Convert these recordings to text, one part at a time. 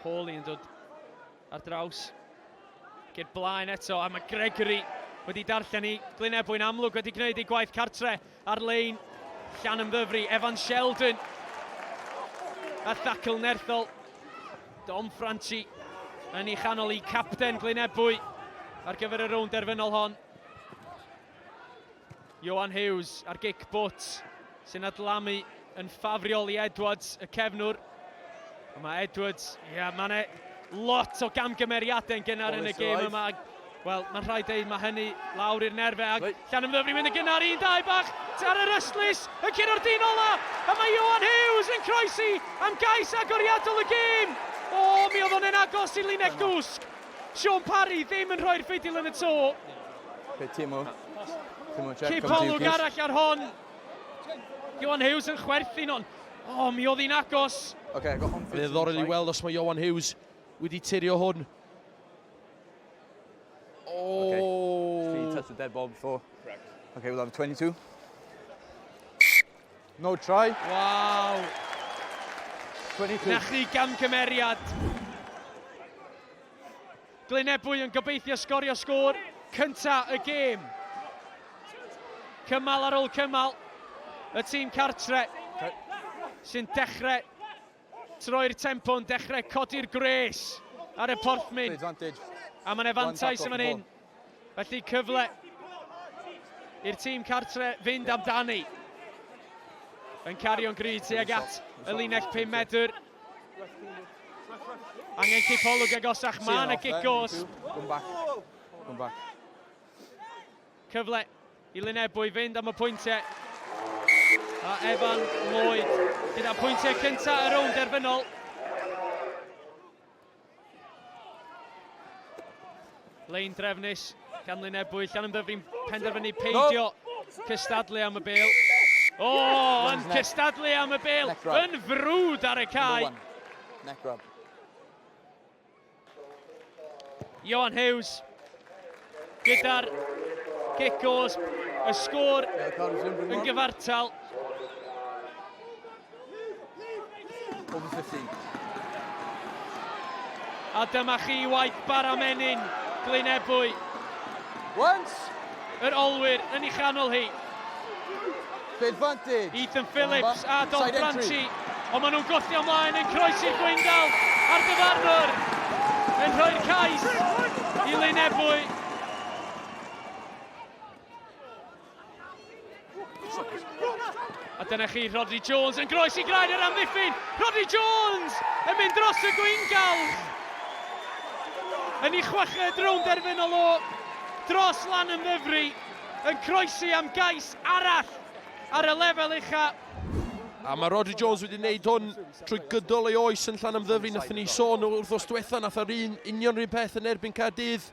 Hawley yn dod ar draws. Geir blaen eto, a mae Gregory wedi darllen i Glyn Ebwy'n amlwg wedi gwneud ei gwaith cartre ar lein llan ymddyfru. Evan Sheldon a thacl nerthol. Dom Franchi yn ei chanol i capten Glyn Ebwy ar gyfer y rownd derfynol hon. Ioan Hughes ar gic bwt sy'n adlamu yn ffafriol i Edwards, y cefnwr. A mae Edwards, ie, yeah, mae'n e lot o gamgymeriadau'n gynnar yn y gêm yma. Wel, mae'n rhaid dweud, mae hynny lawr i'r nerfau. Ac right. Llan ymddyfri mynd y gynnar, un dau bach, ar yr ystlus, y cyn o'r dyn ola. A mae Ioan Hughes yn croesi am gais agoriadol y gêm. O, mi oedd o'n agos i linell gwsg. Shaun Parry ddim yn rhoi'r ffidil yn y to. Pe Timo. Timo Jack. Cip olwg arall ar hon. Johan Hughes yn chwerthin ond o, oh, mi oedd hi'n agos. Okay, I got home Fe ddorol i weld os mae Johan Hughes wedi tirio hwn. Oh. Okay. Three touch the dead ball before. Correct. Okay, we'll have 22. No try. Waw! 22. Na chi gamgymeriad. Glyn Ebwy yn gobeithio sgorio sgôr cynta y gêm. Cymal ar ôl cymal, y tîm cartre sy'n dechrau Troi'r tempo'n dechrau codi'r gwres ar y porthmyn. A mae'n efantais yn fan hyn. Felly cyfle i'r tîm cartre fynd amdani. Yn cario'n grid tuag at y linell 5 medr. Angen cipolwg agosach, mae yna gigos. Cyfle I Lyn Ebwy fynd am y pwyntiau. A Evan Lloyd gyda pwyntiau cyntaf y rownd derfynol. Lein drefnus gan Lyn Ebwy. Llan ymddyfri'n penderfynu peidio cystadlu am y bel. O, oh, yn cystadlu am y bel. Yn frwd ar y cae. Neck rub. Johan Hughes gyda'r cic os y sgôr yn gyfartal. A dyma chi waith bara menyn Glyn Ebwy. Yr olwyr yn ei chanol hi. Ethan Phillips a Dom Branty, ond maen nhw'n gwthio ymlaen yn croesi Gweindal a'r dyfarnwr yn rhoi'r cais i Lyn Ebwy. A dyna chi, Rhodri Jones yn groes i graen yr amddiffyn. Rhodri Jones yn mynd dros y gweingal. Yn ei chweched rownd derfynol o dros lan yn ddefri, yn croesi am gais arall ar y lefel uchaf. A mae Rhodri Jones wedi wneud hwn trwy gydol ei oes yn Llanymddyfri. Nathon ni sôn o'r wrthos diwetha, nath ar un union rhywun peth yn erbyn Caerdydd.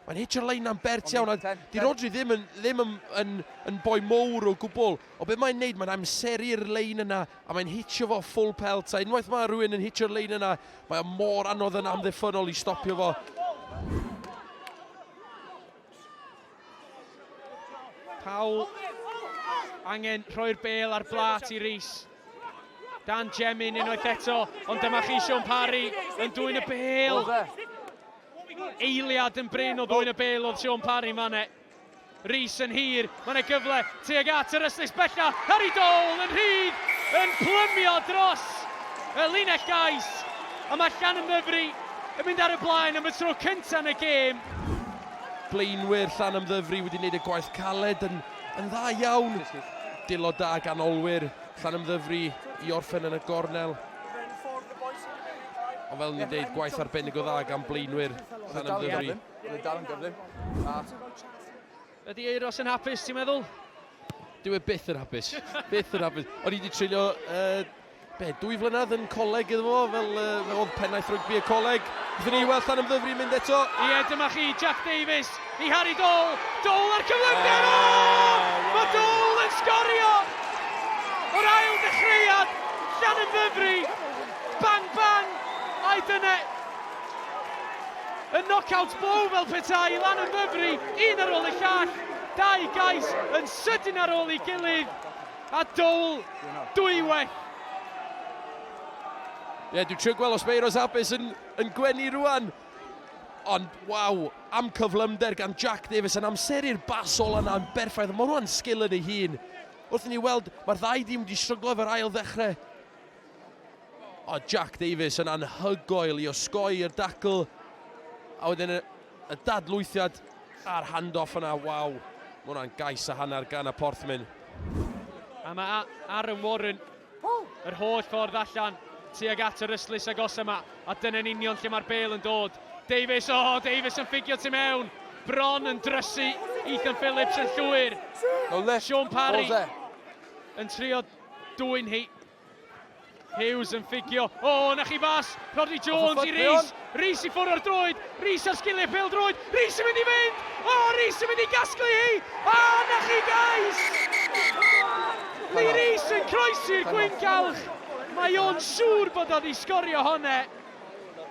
Mae'n hitio lein am bert iawn, a di Rodri ddim yn, ddim yn, yn, yn boi mowr o gwbl. O beth mae'n neud, mae'n amseru'r lein yna, a mae'n hitio fo full pelt, a unwaith mae rhywun yn hitio'r lein yna, mae o mor anodd yn amddiffynol i stopio fo. Paul angen rhoi'r bel ar blat i Rees. Dan Jemin unwaith eto, ond dyma chi Sean Parry yn dwy'n y bel. Eiliad yn bryn o ddwy'n y bel oedd Sean Parry manne. Rees yn hir, mae'n ei gyfle tuag at yr ystus bella. Harry Dole yn rhydd, yn plymio dros y linell gais. A mae Llan Llanymddyfri yn mynd ar y blaen am y tro cyntaf yn y gêm. Blaenwyr Llanymddyfri wedi gwneud y gwaith caled yn, yn dda iawn. Dilo da gan olwyr Llanymddyfri i orffen yn y gornel. Ond fel ni'n dweud, gwaith arbennig o dda gan blaenwyr Llanymddyfri. Bydd dal yn gyflym. Ydy Eiros yn hapus, ti'n meddwl? Dwi e byth yn hapus. byth yn hapus. O'n i wedi treulio uh, Be, dwy flynedd yn coleg iddo fo, fel uh, fe oedd pennaeth rygbi y coleg. Byddwn ni weld llan ymddyfri mynd eto. Ie, yeah, dyma chi, Jack Davies i Harry Dole. Dole ar cyflymder! Oh, oh, oh, Mae Dole yn sgorio! O'r ail dechreuad, llan ymddyfri. Bang, bang! Ai dyna y knockout blow fel petai lan ymddyfri, un ar ôl y llall, dau gais yn sydyn ar ôl ei gilydd. A Doel, dwy well! Ie, yeah, dwi'n trio gweld os mae Euros Abys yn, yn gwenu rwan. Ond, waw, am cyflymder gan Jack Davis yn amseru'r bas ola yna yn berffaith. Mae rwan sgil yn ei hun. Wrth ni weld, mae'r ddau dîm wedi stryglo efo'r ail ddechrau. O, Jack Davis yn anhygoel i osgoi i'r dacl. A wedyn Y dadlwythiad a'r hand-off yna, waw. Mae hwnna'n gais a hanner gan y Porthmyn. A mae Aaron Warren yr holl ffordd allan tuag at yr ystlys agos yma. A dyna'n union lle mae'r bel yn dod. Davies, o, oh, Davies yn ffugio tu mewn. Bron yn drysu Ethan Phillips yn llwyr. Sean Parry yn trio dwy'n hi. Hughes yn ffugio, o, oh, na chi fas, Rodri Jones i Rhys, Rhys i ffwrdd o'r droed, Rhys ar sgiliau pel droed, Rhys yn mynd i fynd, o, oh, Rhys yn mynd i gasglu hi, a oh, na chi gais! Lee Rhys yn croesi'r gwyn galch, mae o'n siŵr bod oedd i sgorio honne.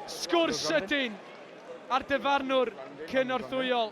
Sgwrs sydyn a'r dyfarnwr cynorthwyol.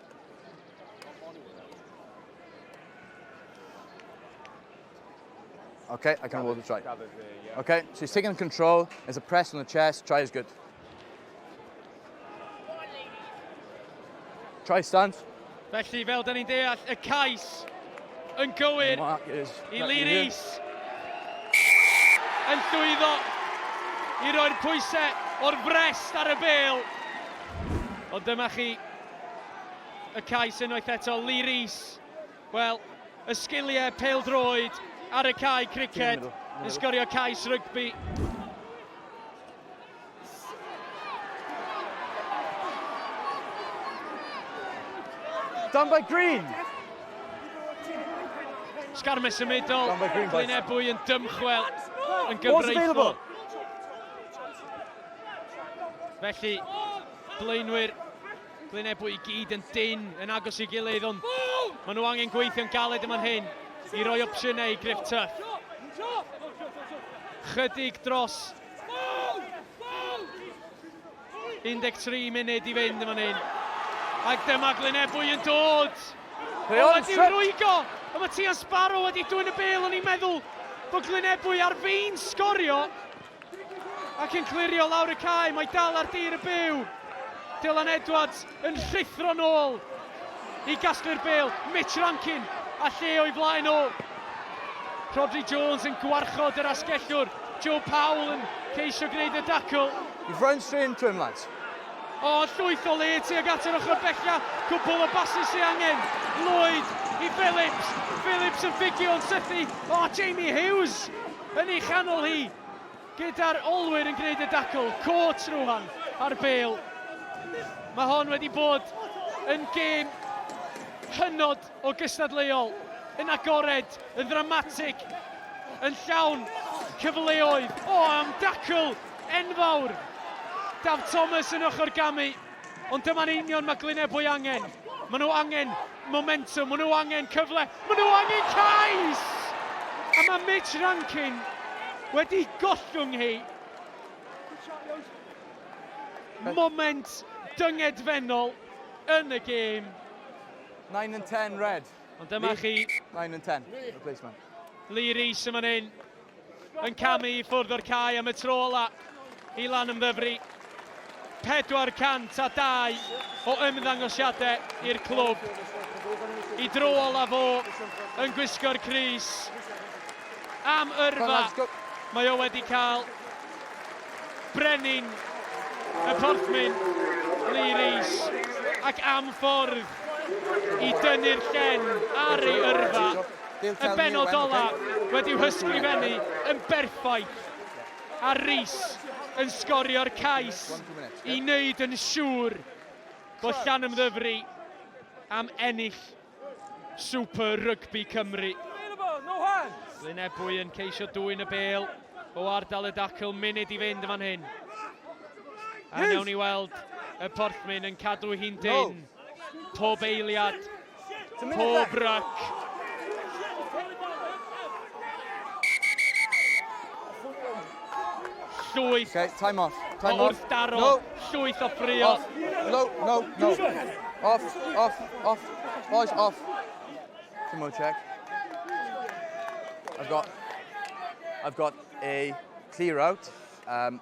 Okay, I can hold the try. Okay, so he's taking control. There's a press on the chest. Try is good. Try stand. Felly, fel dyn ni'n deall, y cais yn gywir i Lee Rees. Yn llwyddo i roi'r pwysau o'r brest ar y bel. Ond dyma chi y cais unwaith eto, Lee Rees. Wel, y sgiliau peldroed ar y cae criced yn sgorio cais rygbi. Done by Green. Sgarme symudol, Glynebwy yn dymchwel yn gyfreithol. Felly, Blaenwyr Glyn Ebwy i gyd yn dynn yn agos i gilydd ond maen nhw angen gweithio'n galed yma'n hyn i roi opsiynau i Griff Tuff. Chydig dros 13 munud i fynd yma'n hyn. Ac dyma Glyn Ebwy yn dod! Rheon, o, wedi rwygo! Ond mae Tian Sparrow wedi dwyn y bel, o'n i'n meddwl bod Glyn Ebwy ar fin sgorio. Ac yn clirio lawr y cae, mae dal ar dir y byw. Dylan Edwards yn rhuthro nôl i gasglu'r bel. Mitch Rankin a lle o'i flaen o. Rodri Jones yn gwarchod yr asgellwr. Joe Powell yn ceisio gwneud y dacl. You've run straight into him, lads. O, llwyth o le tuag at yr ochr bella. Cwbl o basys sy'n angen. Lloyd i Phillips. Phillips yn ffugio yn sythu. O, Jamie Hughes yn ei chanol hi, gyda'r olwyr yn gwneud y dacl, Coates rwan ar bêl. Mae hon wedi bod yn gêm hynod o gystadleuol, yn agored, yn ddramatig, yn llawn cyfleoedd. O, am dacl enfawr! Daf Thomas yn ochr gamu. Ond dyma'n union mae Glyn Ebwy angen. Maen nhw angen momentum, maen nhw angen cyfle, maen nhw angen cais! A mae Mitch Rankin wedi gollwng hi. Moment dyngedfennol yn y gêm. 9 and 10 red. Ond dyma chi... 9 and 10, replacement. Lee Rees yn fan hyn. yn camu i ffwrdd o'r cae am y tro ola i Lanymddyfri. 402 o ymddangosiadau i'r clwb. I dro ola fo yn gwisgo'r Cris. Am yrfa, mae o wedi cael brenin y porthmyn Lee Rees ac am ffordd i dynnu'r llen ar ei yrfa. y bennod olaf wedi'w hysgrifennu yn berffaith a Rees yn sgorio'r cais i wneud yn siŵr bod Llanymddyfri am ennill Super Rygbi Cymru. Glyn Ebwy yn ceisio dwyn y bêl o ardal y dacl, munud i fynd yn fan hyn. A newn ni weld y Porthmyn yn cadw hi'n dyn pob eiliad. Pob rac! Llwyth. Okay, time off. Time off. Wrth daro. No. Llwyth o ffrio. Off. No, no, no. Off, off, off. Boys, off. Two more check. I've got, I've got a clear out. Um,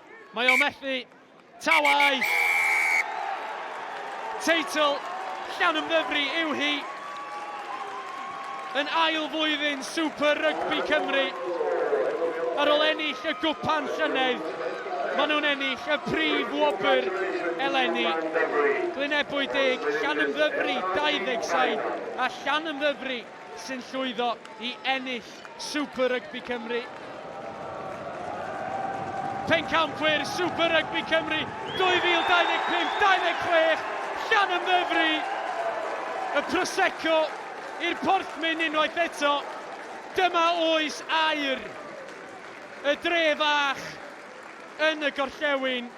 Mae o methu. Tawau! Teitl llawn ymddyfri yw hi. Yn ail flwyddyn Super Rygbi Cymru. Ar ôl ennill y gwpan llynedd, maen nhw'n ennill y prif wobr eleni. Glynebwy deg, Llanymddyfri 27 a Llanymddyfri sy'n llwyddo i ennill Super Rygbi Cymru. Pencampwyr Super Rygbi Cymru 2025-26, Llanymddyfri! Y Prosecco i'r porthmyn unwaith eto. Dyma oes aur y dre fach yn y gorllewin.